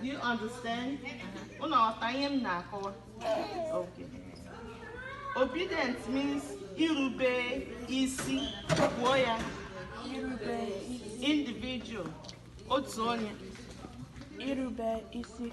Do you understand? Unu aghọta ihe m na-akọwa? Okay. Obedient means irube isi kwuo ya individual otu onye irube isi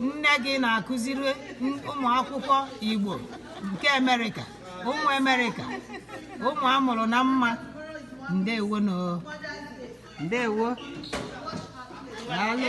nne gị na-akụziri ụmụ akwụkwọ Igbo nke Amerịka ụmụ Amerịka ụmụ a mụrụ na mba ndewo nụ ndewo daalụ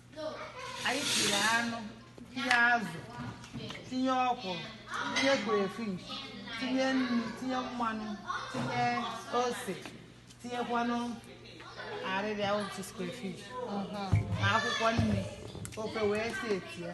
anyị tiri anụ tinye azụ tinye ọkwụrụ tinye stockfish tinye nnu tinye mmanụ tinye ose tinyekwanụ arịrịa otu stockfish na akwụkwọ nri ofe wee si eti ya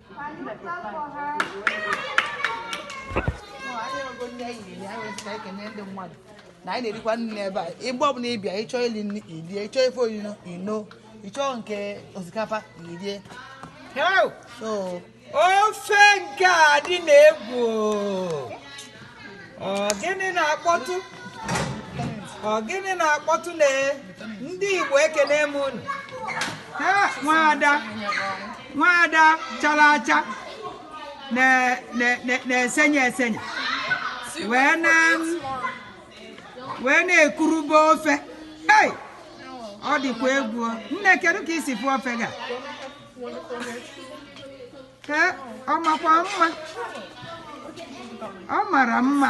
na anyị na-erikwa nri n'ebe a mgbe ọbụla ị bịa ị chọọ ili nri i lie ị chọọ ife oriri i noo ị chọọ nke osikapa i lie so ofe nke a dị na egwu Ọ gịnị na-akpọtụ ọ gịnị na-akpọtụ na ndị Igbo ekene m unu nwaada nwaada chara acha na-esenye esenye wee na-ekurube ofe ọ dịkwa egwu nne kedu ka i si fụ ofe ga ee ọ makwa mma ọ mara mma